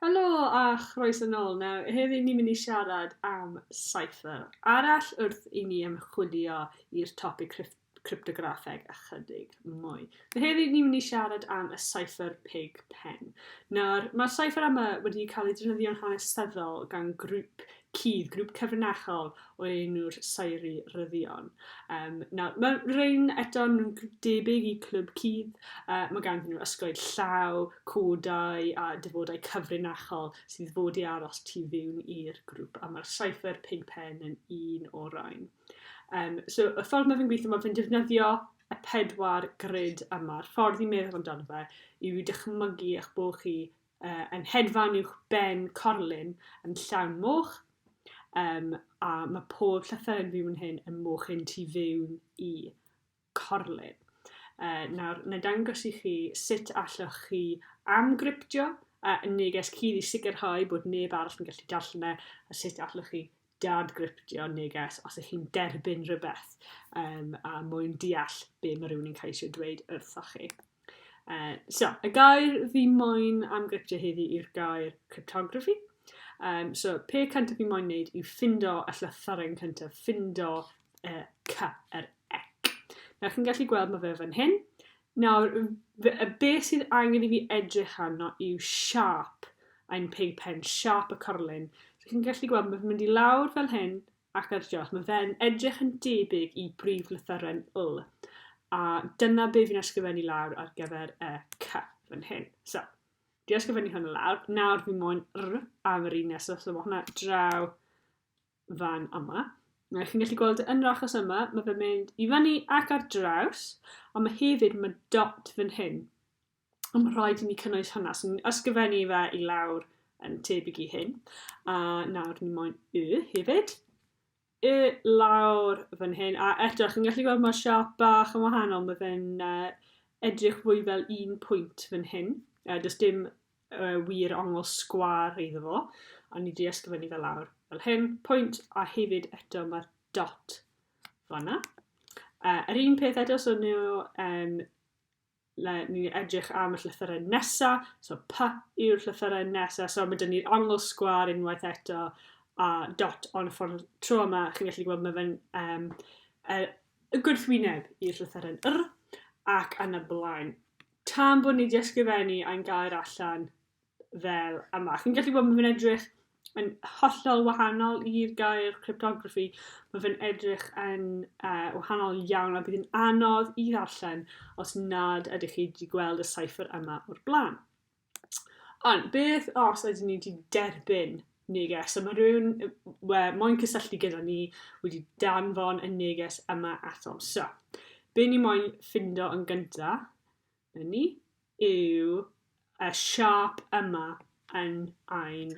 Helo a chroeso nôl. Nawr, heddi ni'n mynd i siarad am cypher arall wrth i ni ymchwilio i'r topic cryf- cryptograffeg ychydig mwy. Heddi ni'n mynd i siarad am y cypher pig pen. Nawr, mae'r cypher yma wedi cael ei defnyddio'n hanesyddol gan grŵp cudd, grŵp cyfrinachol o enw'r Saeri Ryddion. Um, nawr, mae rhain eto yn debyg i clwb cudd, uh, mae gan nhw ysgoed llaw, codau a dyfodau cyfrinachol sydd fod i aros tu fiwn i'r grŵp, a mae'r cypher pig pen yn un o rhain. Yym, so y ffordd mae fe'n gweithio, mae fe'n defnyddio y pedwar grid yma. Yr ffordd i meddwl amdano fe yw i dychmygu eich bod chi uh, yn hedfan uwch ben corlun yn llawn moch, um, a mae pob llythyr yn fyw yn hyn yn moch hyn tu fewn i corlyn. Uh, nawr, na dangos i chi sut allwch chi amgryptio a uh, neges cyd i sicrhau bod neb arall yn gallu darllen e, a sut allwch chi dadgryptio neges os ych chi'n derbyn rhywbeth um, a mwyn deall be mae rhywun yn cael eisiau dweud wrthoch chi. Uh, so, y gair fi moyn am gryptio heddi yw'r gair cryptography. Um, so, pe cyntaf fi moyn wneud yw ffindo y llythyren cyntaf, ffindo y cy, yr ec. Na, chi'n gallu gweld mae fe fan hyn. Nawr, y beth sydd angen i fi edrych arno yw siap ein pig pen, siap y corlun. So, chi'n gallu gweld mae'n mynd i lawr fel hyn, Ac ar diolch, mae fe'n edrych yn debyg i brif lythyren L. A dyna be fi'n ysgrifennu lawr ar gyfer y C fan hyn. So, di ysgrifennu hwn lawr. Nawr fi moyn R am yr un nesaf, so mae hwnna draw fan yma. Mae chi'n gallu gweld yn yr achos yma, mae fe'n mynd i fyny ac ar draws, ond mae hefyd, mae dot fan hyn. Ond mae rhaid i ni cynnwys hwnna. So ni'n ysgrifennu fe i lawr yn tebyg i hyn. A nawr ni moyn y hefyd. Y lawr fan hyn. A eto, chi'n gallu gweld mae'r siap bach yn wahanol. Mae fe'n uh, edrych fwy fel un pwynt fan hyn. Uh, does dim uh, wir ongl sgwar iddo fo. A ni wedi ysgrifennu fe lawr fel hyn. Pwynt a hefyd eto mae'r dot fanna. Uh, yr un peth eto, so nhw um, le ni'n mynd i edrych am y llythyrau nesa', so pa yw'r llythyrau nesa', so ma' 'da ni'r ongl sgwâr unwaith eto, a dot on y ffordd tro yma, chi'n gallu gweld ma' fe'n um, e, y gwrthwyneb i'r llythyren yr, ac yn y blaen. Tan bod ni wedi ysgrifennu a'n gair allan, fel yma. Chi'n gallu gweld mae fe'n edrych yn hollol wahanol i'r gair cryptography. Mae fe'n edrych yn uh, wahanol iawn a bydd yn anodd i ddarllen os nad ydych chi wedi gweld y cipher yma o'r blaen. Ond beth os ydyn ni wedi derbyn neges? So mae rhywun we, moyn cysylltu gyda ni wedi danfon y neges yma atom. So, be ni moyn ffindo yn gyntaf 'Na ni. Yw y siâp yma yn ein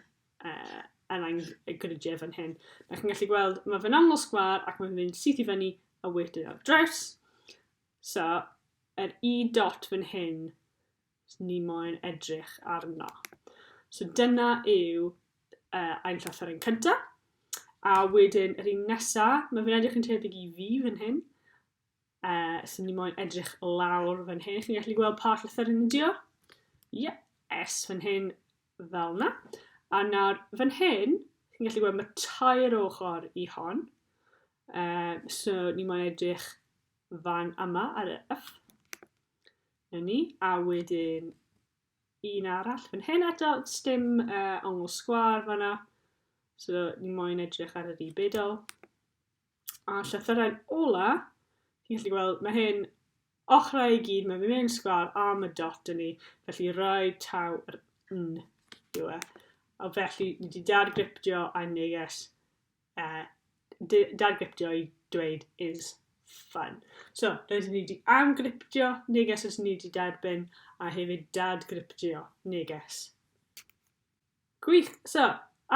uh, yn ein gridiau fan hyn. Da chi'n gallu gweld, mae fe'n aml sgwar ac mae'n mynd syth i fyny a wedyn ar draws. So, yr i dot fan hyn, ni moyn edrych arno. So dyna yw uh, ein llythyr yn cyntaf. A wedyn, yr un nesaf, mae fe'n edrych yn tebyg i fi fan hyn. Uh, sy'n ni moyn edrych lawr fan hyn. Chi'n gallu gweld pa llythyr yn ydio? Ie, yeah, S fan hyn fel na. A nawr fan hyn, chi'n gallu gweld mae tair ochr i hon. Uh, so ni moyn edrych fan yma ar y F. Na ni. A wedyn un arall fan hyn eto, stym uh, ongl sgwar fanna. So ni moyn edrych ar yr i bedol. A llythyrau'n ola, chi'n gallu gweld, mae hyn ochrau i gyd, mae fi'n mynd yn sgwar a mae dot yn ni, felly rhoi taw yr n yw e. A felly, ni wedi dadgriptio a neges, uh, dadgriptio i dweud is fun. So, rydyn ni wedi amgriptio neges os ni wedi derbyn a hefyd dadgriptio neges. Gwych! So,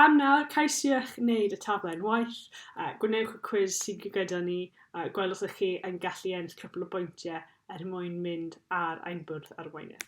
am nawr, cais i eich wneud y taflen waith, a gwnewch y cwis sydd gyda ni, a gweld os ych chi yn gallu ennill cwpl o bwyntiau er mwyn mynd ar ein bwrdd arweinydd.